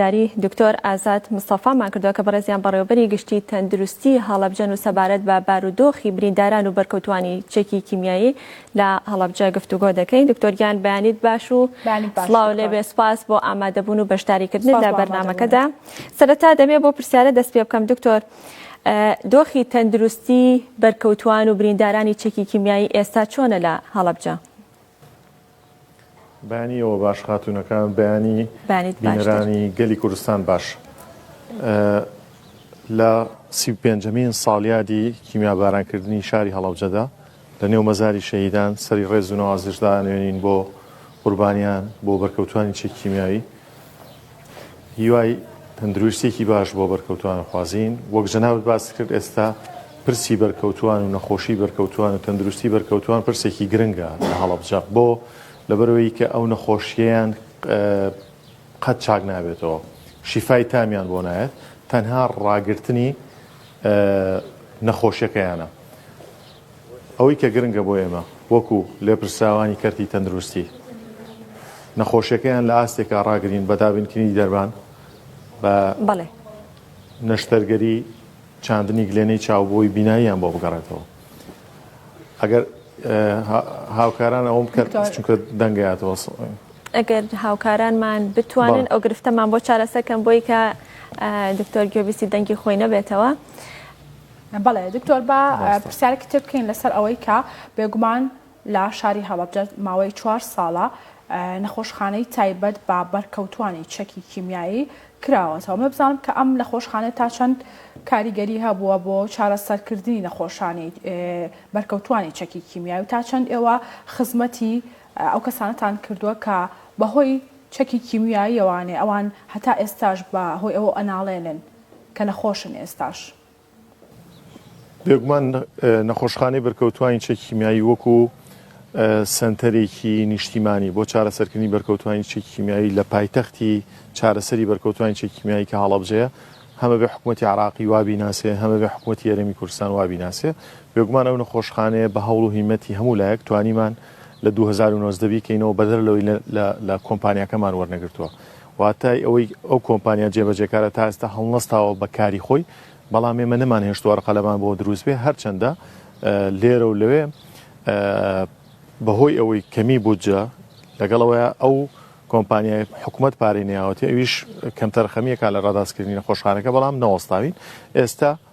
زاری دکتۆر ئازاد مستەفامان کردوە کە بەڕێزیان بەڕێوەبەری گشتی تەندروستی هەڵەبجەن و سەبارەت بە بارودۆخی برینداران و بەرکەوتوانی چەکی کیمیایی لە هەڵەبجە گفتوگۆ دەکەین دکتۆر گیان بەیانیت باش و سڵاو لێبێ سپاس بۆ ئامادەبوون و بەشداریکردن لە بەرنمەکەدا سەرەتا دەمێ بۆ پرسیارە دەست پێ بکەم دکتۆر دۆخی تەندروستی بەرکەوتوان و بریندارانی چەکی کیمیایی ئێستا چۆنە لە هەڵەبجە؟ بەیانی ئێوە باش خاتوونەکان بەیانی بانیت باشتر. بینەرانی گەلی کوردستان باش ئە، لە سی و پێنجەمین ساڵیادی کیمیابارانکردنی شاری هەڵەبجەدا لە نێو مەزاری شەهیدان سەری ڕێز و نەوازش دانوێنین بۆ قوربانیان بۆ بەرکەوتوانی چەکی کیمیاوی هیوای تەندروستیەکی باش بۆ بەرکەوتوان خوازین وەک جەنابت باس کرد ئێستا پرسی بەرکەوتوان و نەخۆشی بەرکەوتوان و تەندروستی بەرکەوتوان پرسێکی گرنگە لە هەڵبجە بۆ لەبەرەوەی کە ئەو نەخۆشییان قەت چاک نابێتەوە شیفای تامیان بۆ نایەت تەنها ڕاگرتنی نەخۆشیەکەیانە ئەوەی کە گرنگە بۆ ئێمە وەکو لێپرسراوانی کەرتی تەندروستی نەخۆشیەکەیان لە ئاستێکا ڕاگرین بە دابینکردنی دەرمان بە نەشتەرگەری چاندنی گلێنەی چاو بۆی بیناییان بۆ بگەڕێتەوە ئەگەر هاوکاران ئەوم بکات چونکە دەنگەیاتەوە ئەگەر هاوکارانمان بتوانن ئەو گرفتەمان بۆ چارەسەکەم بۆی کە دکتۆر گوێبیستی دەنگی خۆی نەبێتەوە. بەڵێ دکتۆر با پرسیارێکی تر بکەین لەسەر ئەوەی کە بێگومان لە شاری هەڵەبجە ماوەی چوار ساڵە نەخۆشخانەی تایبەت بە بەرکەوتوانی چەکی کیمیایی کراوەتەوە مە بزانم کە ئەم نەخۆشخانە تا چەند کاریگەری هەبووە بۆ چارەسەرکردنی نەخۆشانی بەرکەوتوانی چەکی کیمیایی و تا چەند ئێوە خزمەتی ئەو کەسانەتان کردووە کە بەهۆی چەکی کیمیایی ئەوانێ ئەوان هەتا ئێستاش بە هۆی ئەوە ئەناڵێنن کە نەخۆشن ئێستاش. بێگومان نەخۆشخانەی بەرکەوتوانی چەکی کیمیایی وەکو سنتەرێکی نیشتیمانی بۆ چارەسەرکردنی بەرکەوتوانی چەکی کیمیایی لە پایتەختی چارەسەری بەرکەوتوانی چەکی کیمیایی کە هەڵەبجەیە هەمە بێ حکوومەتتی عراقی وابی ناسێ هەمە بێ حکوومەتتی یاریمی کوردستان وابی ناسێ بێگومان ئەو نەخۆشخانەیە بە هەوڵ و هیمەتی هەموو لایەک توانیمان لە 2009 بیکەینەوە بەدەر لەوەی لە کۆمپانیەکەمان وەرنەگرتووە واتای ئەوەی ئەو کۆمپانیا جێبەجێکارە تا ئێستا هەڵنەستاوە بە کاری خۆی، بەڵام ئێمە نەمانهێشتووە ڕقەلەمان بۆ دروست بێت، هەرچەندە لێرە و لەوێ بەهۆی ئەوەی کەمی بودجە، لەگەڵ ئەوەی ئەو کۆمپانیای حکومەت پارەی نەیاوەتێ، ئەویش کەمتەرخەمییەکە لە ڕاداستکردنی نەخۆشخانەکە، بەڵام نەوەستاوین ئێستا.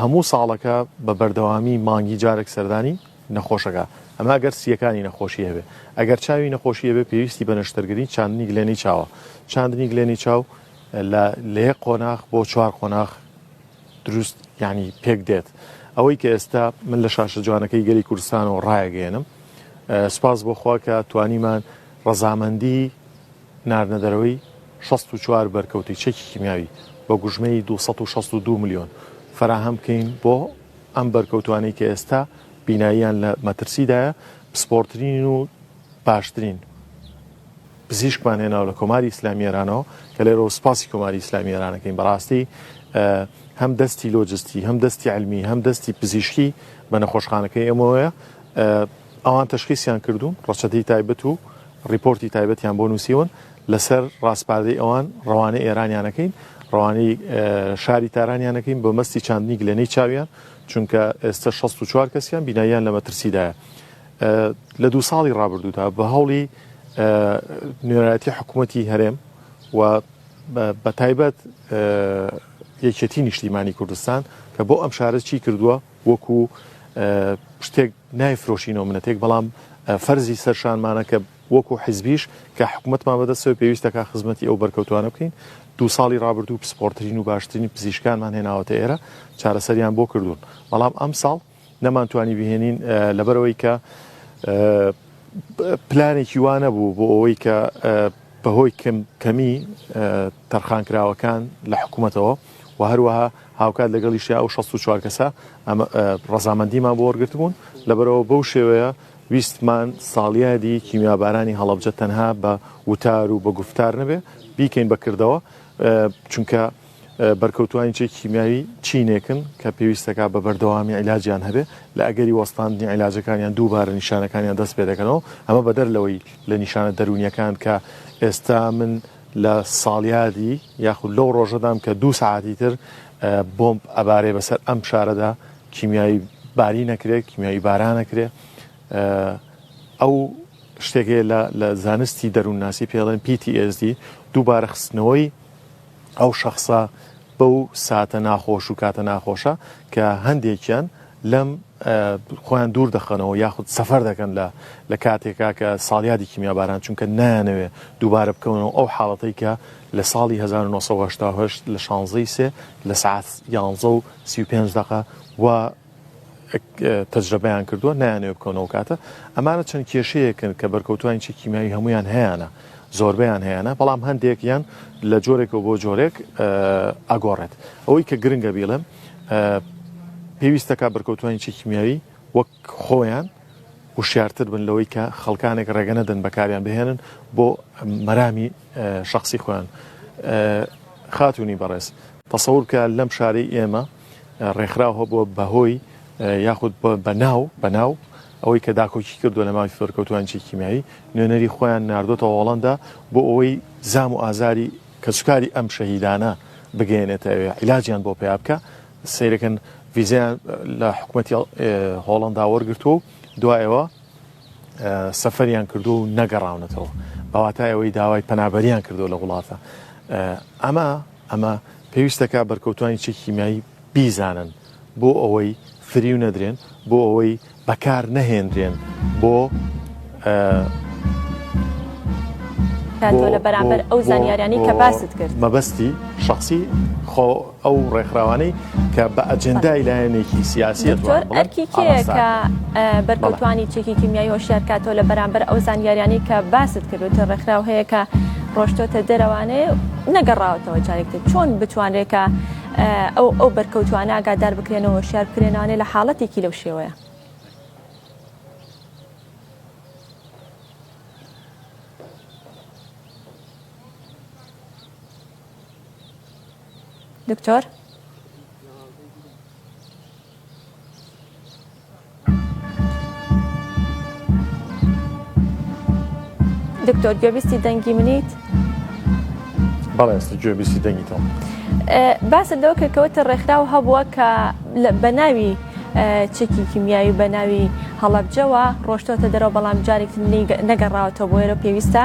هەموو ساڵەکە بە بەردەوامی مانگی جارێک سەردانی نەخۆشەکە ئەما گەر سیەکانی نەخۆشی هەبێ ئەگەر چاوی نەخۆشی هەبێ پێویستی بە نەشتەرگری چاندنی گلێنی چاوە چاندنی گلێنی چاو لە لێ قۆناخ بۆ چوار قۆناخ دروست ینی پێک دێت ئەوەی کە ئێستا من لە شاشە جوانەکەی گەلی کوردستان و ڕایەگەێنم سپاس بۆخوا کە توانیمان ڕەزامەندی ناردنەدەرەوەی شەست و چوار بەرکەوتەی چەکی کیمیاوی بە گوژمەی دوو سەد و شەست و دوو ملیۆن فەراهەم بکەین بۆ ئەم بەرکەوتوانەی کە ئێستا بیناییان لە مەترسیدایە پسپۆڕترین و باشترین پزیشکمان هێناو لە کۆماری ئیسلامی ئێرانەوە کە لێرەوە سپاسی کۆماری ئیسلامی ئێرانەکەین بەڕاستی هەم دەستی لۆجستی هەم دەستی علمی هەم دەستی پزیشکی بە نەخۆشخانەکەی ئەمەوەە ئەوان تشخیسیان کردوون ڕەچەتی تایبەت و ڕیپۆرتی تایبەتیان بۆ نووسیون لەسەر ڕاسپاردەی ئەوان ڕەوانەی ئێرانیانەکەین، ڕەوانەی شاری تارانیانەکەین بە مەستی چاندنی گلەنەی چاویان، چونکە ئێستە شەست و چوار کەسیان بیناییان لە مەترسیدایە. لە دوو ساڵی ڕابردوودا بە هەوڵی نوێنەرایەتی حکوومەتی هەرێم و بە تایبەت یەکێتی نیشتیمانی کوردستان کە بۆ ئەم شارە چی کردووە وەکو شتێک نایفرۆشینەوە منەتێک بەڵام فەرزی سەرشانمانە کە وەکو حزبیش کە حکومەتمان بەدەستەوەی پێویستەکا خزمەتی ئەو بەرکەوتوانە بکەین، دوو ساڵی رابردوو پسپۆڕترین و باشترین پزیشکانمان هێناوەتە ئێرە چارەسەریان بۆ کردوون، بەڵام ئەمساڵ نەمانتوانی بهێنین لەبەرئەوەی کە پلانێکی وا نەبوو بۆ ئەوەی کە بەهۆی کەمی تەرخانکراوەکان لە حکومەتەوە و هەروەها هاوکات لەگەڵیشیا ئەو 64 کەسە رەزامەندیمان بۆ وەرگرتبوون لەبەرەوە بەو شێوەیە ویستمان ساڵیادی کیمیابارانی هەڵەبجە تەنها بە وتار و بە گوفتار نەبێ بیکەین بە کردەوە چونکە بەرکەوتوانی چێکی کیمیاوی چینێکن کە پێویستەکە بە بەردەوامی عیلاجیان هەبێ لە ئەگەری وەستاندنی عیلاجەکانیان دووبارە نیشانەکانیان دەست پێ دەکەنەوە ئەمە بەدەر لەوەی لە نیشانە دەرونیەکان کە ئێستا من لە ساڵیادی یاخود لەو ڕۆژەدام کە دوو ساعتی تر بۆمب ئەبارەی بەسەر ئەم شارەدا کیمیایی باری نەکرێت کیمیایی بارا نەکرێت ئەو شتێکێ لە زانستی دەروونناسی پێڵێن PTSD دووبارە خستنەوەی ئەو شخصە بەو ساتە ناخۆش و کاتە ناخۆشە کە هەندێکیان لەم خۆیان دوور دەخەنەوە یاخود سەفەر دەکەن لە لە کاتێکا کە ساڵیادی کیمیاباران چونکە نایانەوێ دووبارە بکەونەوە ئەو حاڵەتەی کە لە ساڵی هەزار و نۆ سەد و هەشتا و هەشت لە شانزەی سێ لە سەعات یانزە و سی و پێنج دەقە و تەجرەبەیان کردووە نایانەوە بکەونەوە کاتە ئەمانە چەند کێشەیەکن کە بەرکەوتوانی چی کیمیاوی هەمویان هەیەە زۆربیان هەیەە بەڵام هەندێک یان لە جۆرێکەوە بۆ جۆرێک ئەگۆڕێت ئەوەی کە گرنگە بیڵێم پێویستەکە بەرکەوتوانی چی کیمیاوی وەک خۆیان وشارتر بن لەوەی کە خەڵکانێک ڕێگە نەدەن بەکاریان بهێنن بۆ مەرامی شەخسی خۆیان خاتونی بەڕێز تەسەور بکە لەم شارەی ئێمە ڕێکخراو هەبووە بەهۆی یاخود بەناو بەناو ئەوەی کە داکۆکی کردو لە ماوی فەرکەوتوان چی کیمیایی نوێنەری خۆیان نردۆتە هۆڵندا بۆ ئەوەی زام و ئازاری کەسوکاری ئەم شەهیدانە بگەێنێتە ئەوێ عیلاجیان بۆ پیا بکە سیرەکەن ویزیان لە حکوومەتی هۆڵندا وەرگتووە دوایەوە سەفەریان کردو و نەگەڕاونەتەوە بەواتای ئەوەی داوای پەنابەریان کردو لە وڵاتە ئەمە ئەمە پێویستەکە بەرکەوتانی چی کیمیایی بیزانن بۆ ئەوەی فریو نەدرێن بۆ ئەوەی بەکار نەهێنرێن بۆ لە بەرامبەر ئەو زانیارانی کە باست کرد مەبەستی شخصی خۆ ئەو ڕێکخراوانەی کە بە ئەجندای لایەنێکی سیاسی ئەرکی کێیە کە بەرکەوتانی چێکی کیمیایی هۆشیار کاتەوە لە بەرامبەر ئەو زانیاریانی کە باست کردوتە ڕێکخراو هەیە کە ڕۆشتۆتە دەرەوانەیە نەگەڕاوەتەوە جارێکتر چۆن بتوانرێکە ئەو ئەو بەرکەوتوانە ئاگادار بکرێنەوە شار بکرێنانێ لە حاڵەتێکی لەو شێوەیە دکتۆر. دکتۆر گوێبیستی دەنگی منیت؟ بەڵێ ئێستا گوێبیستی دەنگی تۆم. باسە لەوە کەکەوتە ڕێکخراو هەبووە کە بە ناوی چێکی کیمیایی بە ناوی هەڵەبجەوە ڕۆشتۆتە دەرەوە بەڵام جارێک نەگەڕاوەتەوە بۆێرە پێویستە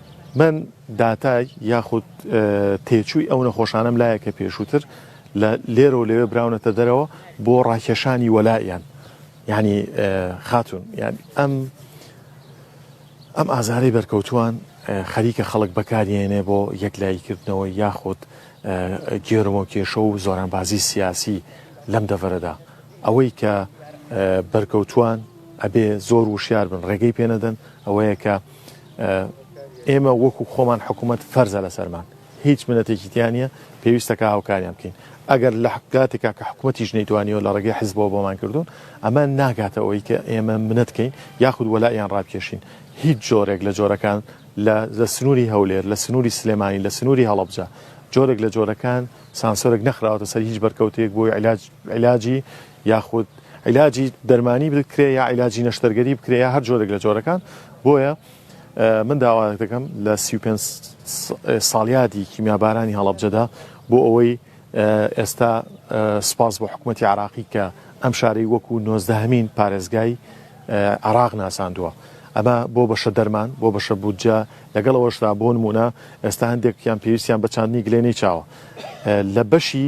من داتای یاخود تێچووی ئەو نەخۆشانەم لایە کە پێشووتر لە لێرەوە لەوێ براونەتە دەرەوە بۆ ڕاکێشانی وەلایان ینی خاتون یان ئەم ئەم ئازارەی بەرکەوتووان خەریکە خەڵک بەکارێنێ بۆ یەک لایکردنەوە یاخود گێرمۆ کێشە و زۆرانبازی سیاسی لەم دەڤەرەدا ئەوەی کە بەرکەوتووان ئەبێ زۆر وشیار بن ڕێگەی پێنەدەن ئەوەیە کە ئێمە وەکو خۆمان حکوومەت فەرزە لەسەرمان هیچ منەتێکی تیانە پێویستەکە هاوکاریان بکەین ئەگەر لە حکاتێکا کە حکوومەتیش نەیتوانیەوە لە ڕێگەی حزبەوە بۆمان کردوون ئەمە ناگاتەوەی کە ئێمە منەتکەین یاخود وەلایان ڕاکێشین هیچ جۆرێک لە جۆرەکان لە لە سنووری هەولێر لە سنووری سلێمانی لە سنووری هەڵبجە جۆرێک لە جۆرەکان سانسۆرێک نەخراوەتە سەر هیچ بەرکەوتێک بۆی علاج علاجی یاخود عیلاجی دەرمانی بکرێ یا عیلاجی نەشتەرگەری بکرێ یا هەر جۆرێک لە جۆرەکان بۆیە من داواێک دەکەم لە سی ساڵیادی کیمیابارانی هەڵبجەدا بۆ ئەوەی ئێستا سپاس بۆ حکوومەتتی عراقی کە ئەم شارەی وەکو نۆزدەهمین پارێزگای عراق ناساندووە ئەمە بۆ بەشە دەرمان بۆ بەشە بودجە لەگەڵ ئەوشدا بۆ نمونە ئێستا هەندێکیان پێویستیان بە چاندنی گلێنەی چاوە لە بەشی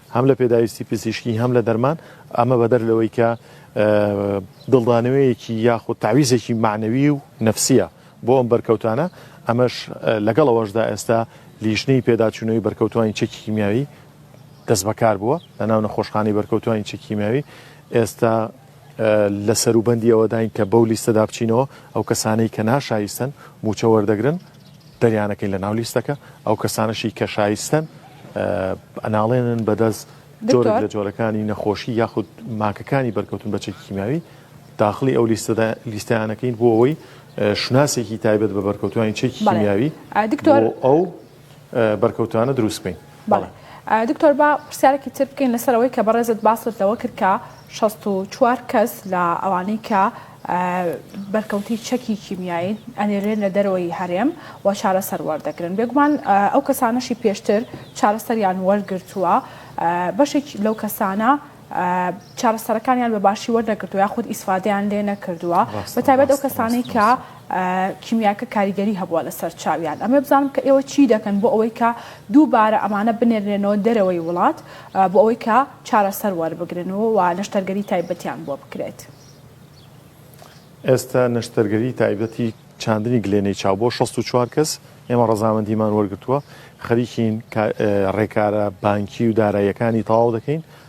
هەم لە پێداویستی پزیشکی هەم لە دەرمان ئەمە بەدەر لەوەی کە دڵدانەوەیەکی یاخود تعویزێکی معنەوی و نفسیە بۆ ئەم بەرکەوتانە ئەمەش لەگەڵەوەشدا ئێستا لیژنەی پێداچوونەوەی بەرکەوتوانی چەکی کیمیاوی دەست بەکار بووە لە ناو نەخۆشخانەی بەرکەوتوانی چەکی کیمیاوی ئێستا لە سەروبەندی ئەوەداین کە بەو لیستەدا بچینەوە ئەو کەسانەی کە ناشایستن موچە وەردەگرن دەریانەکەین لە ناو لیستەکە ئەو کەسانەشی کە شایستەن ئەناڵێنن بەدەست جۆرێک لە جۆرەکانی نەخۆشی یاخود ماکەکانی بەرکەوتن بە چەکی کیمیاوی داخلی ئەو لیستەدا لیستیانەکەین بۆ ئەوەی شناسێکی تایبەت بە بەرکەوتوانی چەکی کیمیاوی دکتۆر ئەو بەرکەوتانە دروستکەین. بەڵێ دکتۆر با پرسیارێکی تر بکەین لەسەر ئەوەی کە بەڕێزت باست لەوە کرد کە 64 کەس لە ئەوانەی کە بەرکەوتی چەکی کیمیایی ئەنێرێن لە دەرەوەی هەرێم و چارەسەر وەردەگرن بێگومان ئەو کەسانەشی پێشتر چارەسەریان وەرگرتووە بەشێک لەو کەسانە چارەسەرەکانیان بە باشی وەرنەگرتو یاخود ئیسفادیان لێ نەکردووە بە تایبەت ئەو کەسانی کە کیمیاکە کاریگەری هەبووە لەسەر چاویان ئەمەێ بزانم کە ئێوە چی دەکەن بۆ ئەوەی کە دووبارە ئەمانە بنێرێنەوە دەرەوەی وڵات بۆ ئەوەی کە چارەسەر وەربگرن و و نەشتەرگەری تایبەتیان بۆ بکرێت. ئێستا نەشتەرگەری تایبەتی چاندنی گلێنەی چاو بۆ 64 کەس ئێمە ڕەزامەندیمان وەرگتووە خەریکین ڕێکارە بانکی و داراییەکانی تەواو دەکەین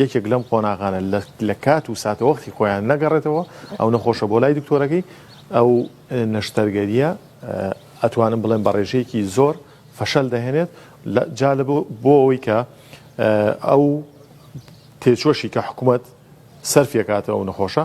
یەکێک لەم قۆناغانە لە لە کات و ساتەوەختی خۆیان نەگەڕێتەوە ئەو نەخۆشە بۆ لای دکتۆرەکەی ئەو نەشتەرگەریە ئەتوانم بڵێم بە ڕێژەیەکی زۆر فەشەل دەهێنێت لە جا لە بۆ ئەوەی کە ئەو تێچوەشی کە حکوومەت سەرفیەکاتەوە نەخۆشە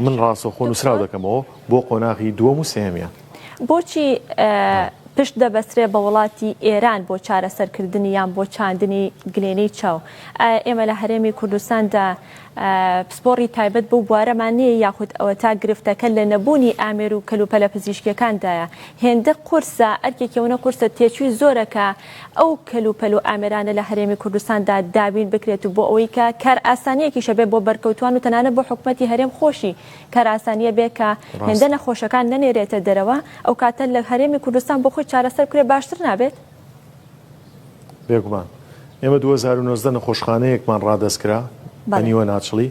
من ڕاستەوخۆ نووسراو دەکەمەوە بۆ قۆناغی دووەم و سێهەمیان. بۆچی پشت دەبەسرێ بە وڵاتی ئێران بۆ چارەسەرکردنی یان بۆ چاندنی گلێنەی چاو؟ ئایا ئێمە لە هەرێمی کوردستاندا پسپۆڕی تایبەت بەو بوارەمان نییە یاخود ئەوەتا گرفتەکە لە نەبوونی ئامێر و کەلوپەلە پزیشکییەکاندایە؟ هێندە قورسە، ئەرکێکی ئەوەنە قورسە تێچووی زۆرە کە ئەو کەل و پەل و ئامێرانە لە هەرێمی کوردستاندا دابین بکرێت و بۆ ئەوەی کە کارئاسانییەکیشە بێ بۆ بەرکەوتوان و تەنانەت بۆ حکومەتی هەرێم خۆشی کارئاسانییە بێ کە هێندە نەخۆشەکان نەنێرێتە دەرەوە ئەو کاتە لە هەرێمی کوردستان بۆ خۆی چارەسەر بکرێت باشتر نابێت؟ بێگومان ئێمە دوو هەزار و نۆزدە نەخۆشخانەیەکمان ڕادەست کرا بە نیوەناچڵی.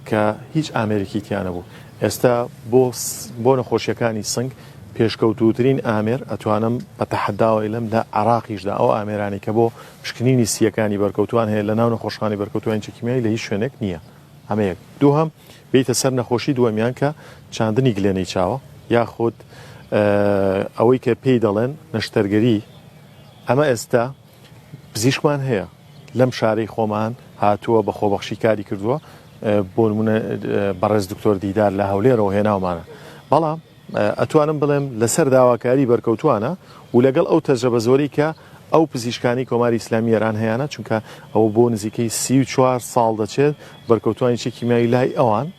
کە هیچ ئامێرێکی تیا نەبوو ئێستا بۆ بۆ نەخۆشیەکانی سنگ پێشکەوتوترین ئامێر ئەتوانم بە تەحداوای لەم لە عراقیشدا ئەو ئامێرانی کە بۆ پشکنینی سیەکانی بەرکەوتوان هەیە لە ناو نەخۆشخانی بەرکەوتوانی چکیمیایی لە هیچ شوێنێک نییە ئەمەیەک دووهم بیتە سەر نەخۆشی دووەمیان کە چاندنی گلێنەی چاوە یاخود ئەوەی کە پێی دەڵێن نەشتەرگەری ئەمە ئێستا پزیشکمان هەیە لەم شارەی خۆمان هاتووە بە خۆبەخشی کاری کردووە بۆ نمونە بەڕێز دکتۆر دیدار لە هەولێرەوە هێناومانە بەڵام ئەتوانم بڵێم لەسەر داواکاری بەرکەوتوانە و لەگەڵ ئەو تەجە بە زۆری کە ئەو پزیشکانی کۆماری ئسلامی ئێران هەیەە چونکە ئەوە بۆ نزیکەی سی4 ساڵ دەچێت بەرکەوتوانی چێکی میاوی لای ئەوان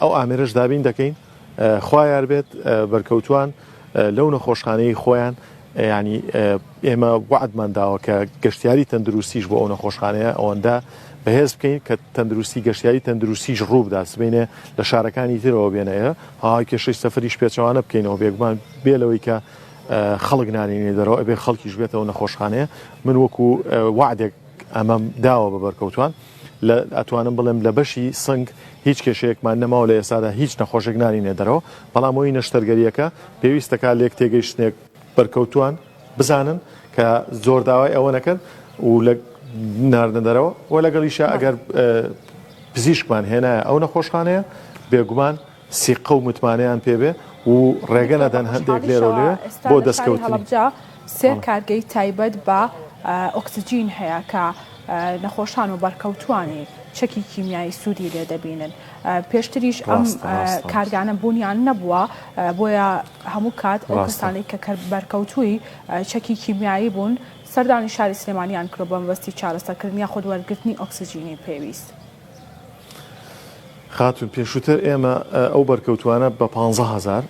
ئەو ئامێرەش دابین دەکەین خوا یار بێت بەرکەوتوان لەو نەخۆشخانەی خۆیان ینی ئێمە وعدمان داوە کە گەشتیاری تەندروستیش بۆ ئەو نەخۆشخانەیە ئەوەندە بەهێز بکەین کە تەندروستی گەشتیاری تەندروستیش ڕووبدا سبینێ لە شارەکانی ترەوە بێنەیە ها کێشەی سەفریش پێچوانە بکەینەوە بێگومان بێ لەوەی کە خەڵک نانینی دەرەوە ئەبێ خەڵکیش بێتەوە نەخۆشخانەیە من وەکو وعدێک ئەمەم داوە بە بەرکەوتوان لە ئەتوانم بڵێم لە بەشی سنگ هیچ کێشەیەکمان نەماوە لە ئێستادا هیچ نەخۆشێک نارینێ دەرەوە بەڵام هۆی نەشتەرگەریەکە پێویستەکە لێک تێگەیشتنێک بەرکەوتوان بزانن کە زۆر داوای ئەوە نەکەن و لە ناردن دەرەوە و لەگەڵیشە ئەگەر پزیشکمان هێنایە ئەو نەخۆشخانەیە بێگومان سیقە و متمانەیان پێ بێ و ڕێگە نەدەن هەندێک لێرە و لەوێ بۆ دەستکەوتنی. سێ کارگەی تایبەت بە ئۆکسجین هەیە کە نەخۆشان و بەرکەوتووانی چەکی کیمیایی سوودی لێ دەبینن. پێشتریش ئەم ڕاستە، ڕاستە. کارگانە بوونیان نەبووە، بۆیە هەموو کات ئەو ڕاستە. کەسانەی کە کە بەرکەوتووی چەکی کیمیایی بوون، سەردانی شاری سلێمانییان کردووە بە مەبەستی چارەسەرکردن یاخود وەرگرتنی ئۆکسجینی پێویست. خاتون پێشووتر ئێمە ئەو بەرکەوتوانە بە پ هزار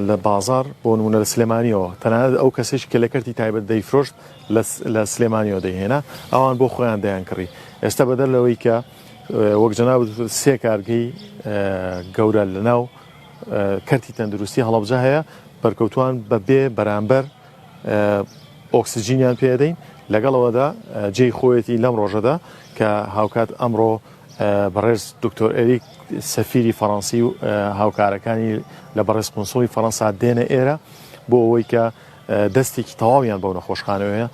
لە بازار بۆ نمونە لە سلێمانیەوە تەنانەت ئەو کەسێک کە لە کەرتی تایبەت دەیفرۆشت لە سلێمانیەوە دەیهێنا ئەوان بۆ خۆیان دەیان کڕی ئێستا بەدەر لەوەی کە وەک جەنا سێ کارگەی گەورە لە ناو کەرتی تەندروستی هەڵبجە هەیە بەرکەوتوان بە بێ بەرامبەر ئۆکسجینیان پێ ئەدەین، لەگەڵ ئەوەدا جێی خۆیەتی لەم ڕۆژەدا کە هاوکات ئەمڕۆ بەڕێز دکتۆر ئەریک سەفیری فەڕەنسی و هاوکارەکانی لە بەڕێز قونسڵی فەڕەنسا دێنە ئێرە بۆ ئەوەی کە دەستێکی تەواویان بەو نەخۆشخانەوەیە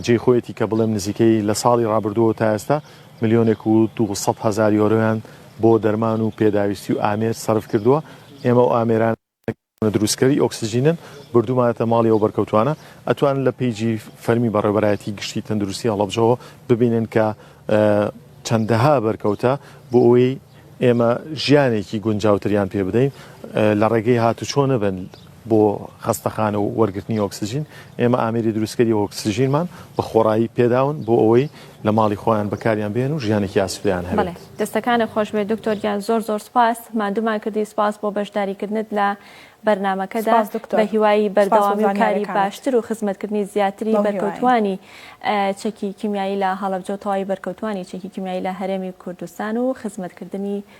جێ خۆیەتی کە بڵێم نزیکەی لە ساڵی ڕابردووە تا ئێستا ملیۆنێک و 200 هزار یۆرۆیان بۆ دەرمان و پێداویستی و ئامێر سەرف کردووە ئێمە و ئامێران ئێمە دروستکەری ئۆکسجینن بردوومانەتە ماڵی ئەو بەرکەوتووانە، ئەتوانن لە پەیجی فەرمی بەڕێوەبەرایەتی گشتی تەندروستی هەڵەبجەوە ببینن کە چەندەها بەرکەوتە بۆ ئەوەی ئێمە ژیانێکی گونجاوتریان پێ بدەین لە ڕێگەی هاتوچۆ نەبن بۆ خەستەخانە و وەرگرتنی ئۆکسجین، ئێمە ئامێری دروستکەری ئۆکسجینمان بە خۆڕایی پێداون بۆ ئەوەی لە ماڵی خۆیان بەکاریان بێن و ژیانێکی ئاسوودەیان هەبێت. بەڵێ دەستەکانت خۆشبێت دکتۆر گیان زۆر زۆر سپاس ماندوومان کردی سپاس بۆ بەشداریکردنت لە بەرنامەکەدا سپاس دکتۆر بە هیوای سپاس بۆ بەردەوامی و کاری زانیاریەکانت باشتر و خزمەتکردنی زیاتری بەو هیوایەی. بەرکەوتووانی چەکی کیمیایی لە هەڵەبجە و تەواوی بەرکەوتووانی چەکی کیمیایی لە هەرێمی کوردستان و خزمەتکردنی